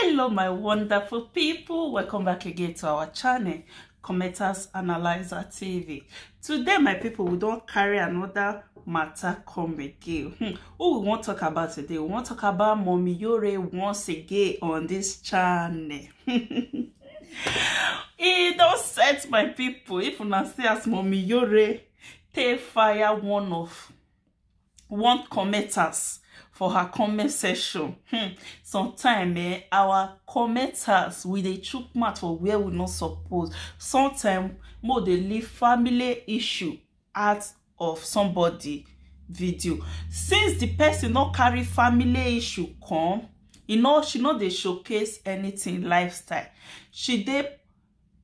hello my wonderful people welcome back again to our channel commenters analyzer tv today my people we don't carry another matter come again hmm. who we won't talk about today we won't talk about mommy yore once again on this channel e don set my people if una see as mommy yore take fire one of want commenters for her comment section hmm. sometimes eh, our commenters we dey chook mouth for where we no suppose sometimes mo dey leave family issue out of somebody video since the person no carry family issue come you know she no dey showcase anything lifestyle she dey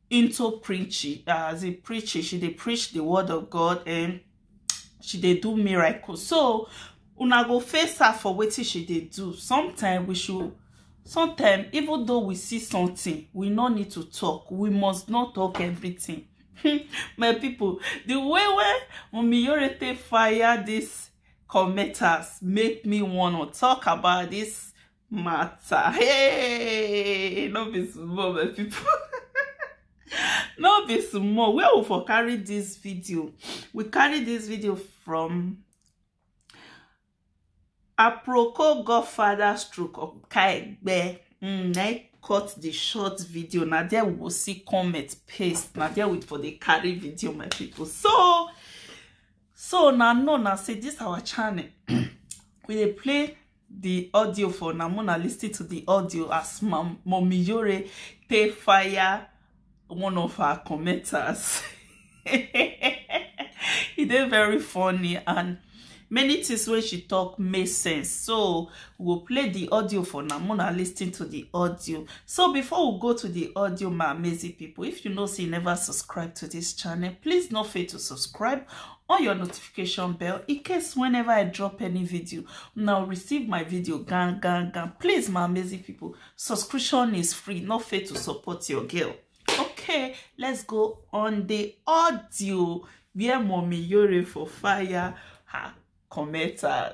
into preaching as a preacher she dey preach the word of god and she dey do miracles so una go face her for wetin she dey do sometimes we should sometimes even though we see something we no need to talk we must not talk everything my people the way wey Omiyorete fire this commenters make me wanna talk about this matter hey no be small my people no be small where we for carry this video we carry this video from aproko godfather stroke okaegbe mm, na e cut the short video na there we go see comment paste na there we for dey carry video my people so so na know na say this our channel we dey play the audio for na mona lis ten to the audio as Mam- mommy yore take fire one of her commenters e dey very funny and many things wey she talk make sense so we go play the audio for now mona listening to the audio so before we go to the audio my amazing people if you know say you never subscribe to this channel please no fail to subscribe on your notification bell in case whenever i drop any video now receive my video gang gang gang please my amazing people subscription is free no fail to support your girl okay let's go on the audio where mommy yore for fire her commenter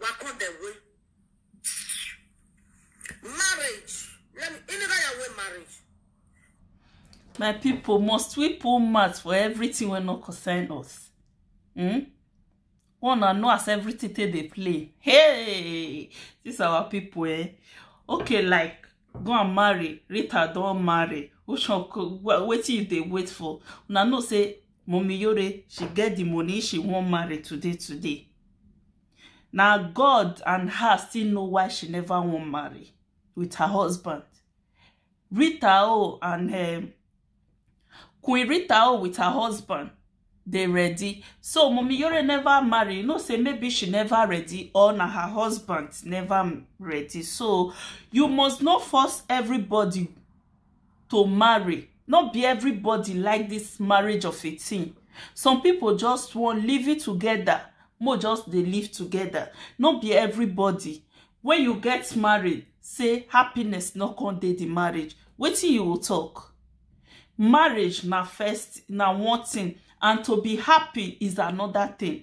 wakɔ the way marriage let me in that way marriage. my people must we pull mouth for everything wey no concern us hmm? one na know as everything take dey play hey this our people eh okay like go and marry rita don marry which one wetin you dey wait for una know say Mommy Yore, she get the money she won't marry today, today. Now God and her still know why she never won't marry with her husband. Rita O and um, Queen Rita O with her husband, they ready. So Mommy Yore never marry. You know, say maybe she never ready or na her husband never ready. So you must not force everybody to marry no be everybody like this marriage of a thing some people just wan live it together mo just dey live together no be everybody when you get married say happiness no come dey the marriage wetin you go talk marriage na first na one thing and to be happy is another thing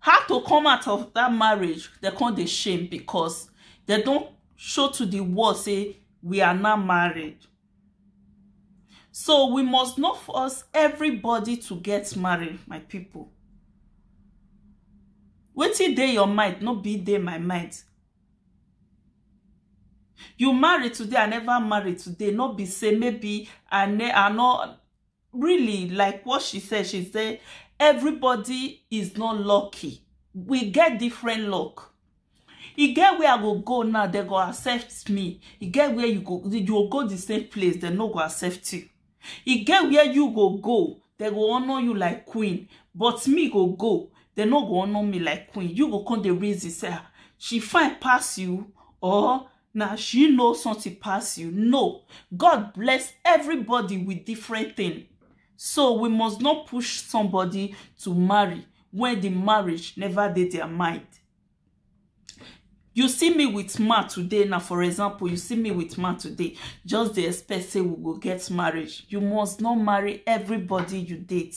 How to come out of that marriage, they come dey shame because they don show to the world say we are now married. So we must not force everybody to get married, my people. Wetin dey your mind no be dey my mind. You marry today, I never marry today. No be say maybe I ne I no really like what she said she said everybody is not lucky we get different luck e get where i go go now they go accept me e get where you go you go go the same place they no go accept you e get where you go go they go honor you like queen but me go go they no go honor me like queen you go come dey reason say ah, she fine pass you or na she know something pass you no god bless everybody with different thing so we must not push somebody to marry when the marriage never did their mind you see me with man today now for example you see me with man today just the expect say we will get marriage you must not marry everybody you date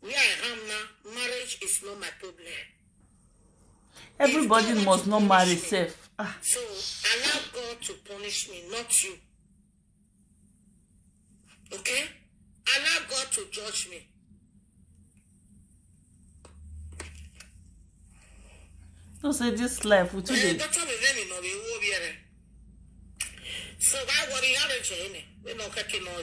Where I am now, marriage is not my problem. Everybody must not marry self. Ah. So allow God to punish me, not you. Okay? Allow God to judge me. No say this life we too eh, dey. So why worry? How did you? We no catch no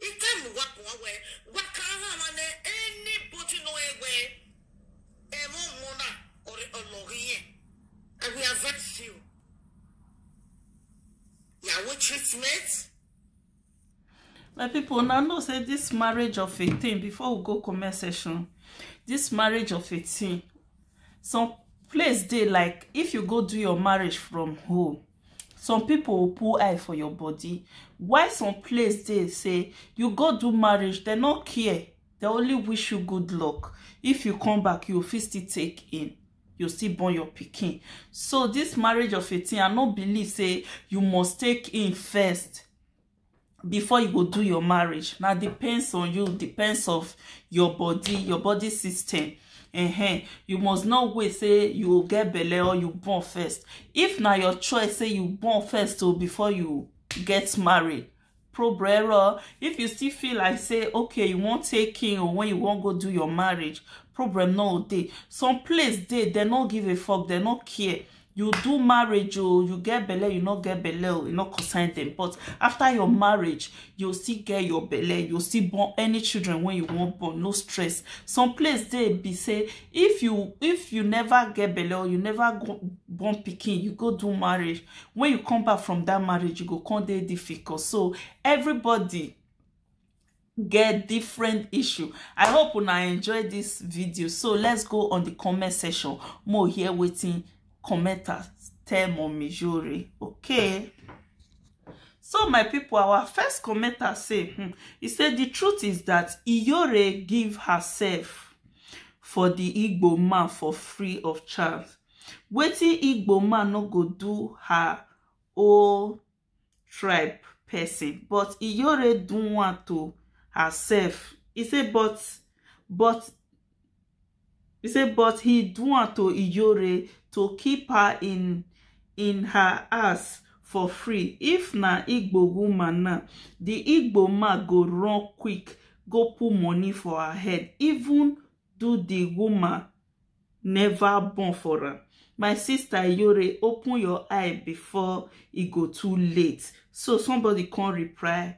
Itam wa wa we wa kara na ne anybody no ewe emo mona or ologiye. I will advise you. Yawo treatment. my people now know say this marriage of a thing before we go comment section this marriage of a thing some place dey like if you go do your marriage from home some people pull eye for your body why some place dey say you go do marriage they no care they only wish you good luck if you come back you fit still take in you still born your pikin so this marriage of 18 i no believe say you must take in first before you go do your marriage now depends on you depends of your body your body system uh-huh. you must not wait say you go get belle or you born first if na your choice say you born first o oh, before you get married problema if you still feel like say okay you wan take king or when you wan go do your marriage problem no dey some place dey dem no give a fuck dem no care you do marriage oh you get belle you no get belle oh you no concern them but after your marriage you still get your belle you still born any children when you wan born no stress some place dey be say if you if you never get belle or you never go born pikin you go do marriage when you come back from that marriage you go come dey difficult so everybody get different issue i hope una enjoy this video so let's go on the comment section more here waiting commenters tell mommy jori okay so my people our first commenter say hmm, he said the truth is that iyore give herself for the igbo man for free of charge waiting igbo man no go do her own tribe person but iyore do one to herself he say but but he say but he do one to iyore to keep her in in her house for free if na igbo woman now the igbo man go run quick go put money for her head even do the woman never born for am my sister yore open your eye before e go too late so somebody come reply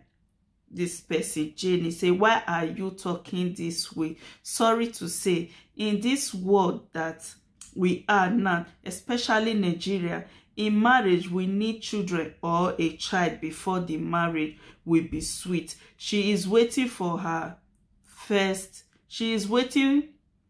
this person jenny say why are you talking this way sorry to say in this world that we are now especially nigeria in marriage we need children or a child before the marriage will be sweet she is waiting for her first she is waiting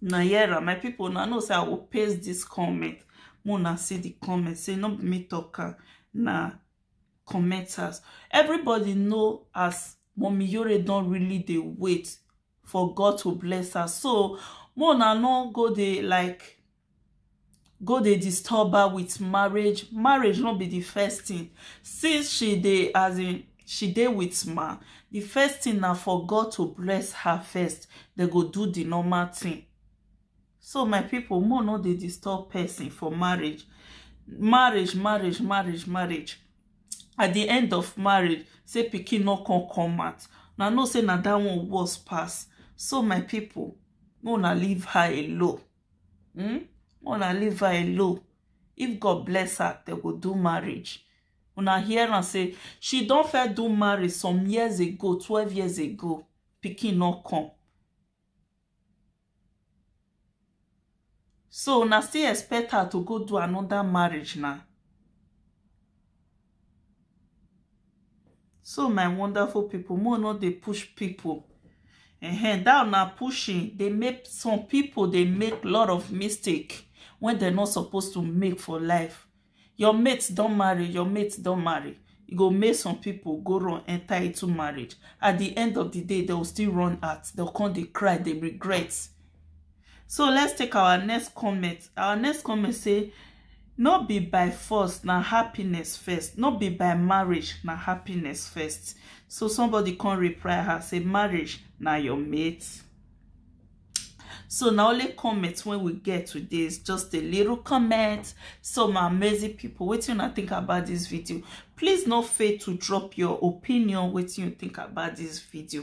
na yera my people na know say i will paste this comment mona see the comment say no be me talk am na commenters everybody know as mommy yore don really dey wait for god to bless her so mona no go dey like go dey disturb her with marriage marriage no be the first thing since she dey as in she dey with man the first thing na for God to bless her first they go do the normal thing so my people more no dey disturb person for marriage marriage marriage marriage marriage at the end of marriage say pikin no come come out na know say na that one worse pass so my people no na leave her alone hmm una leave her alone if god bless her they go do marriage una hear am say she don first do marriage some years ago twelve years ago pikin no come so una still expect her to go do another marriage na so my wonderful people more no dey push people uh-huh. that na pushing dey make some people dey make lot of mistake when they're not supposed to make for life your mates don't marry your mates don't marry e go make some people go run enter into marriage at the end of the day they will still run out they'll come dey cry they regret so let's take our next comment our next comment say no be by force na happiness first no be by marriage na happiness first so somebody come reply her say marriage na your mate so na only comment wey we get today is just a little comment so my amazing people wetin una think about this video please no fail to drop your opinion wetin you think about this video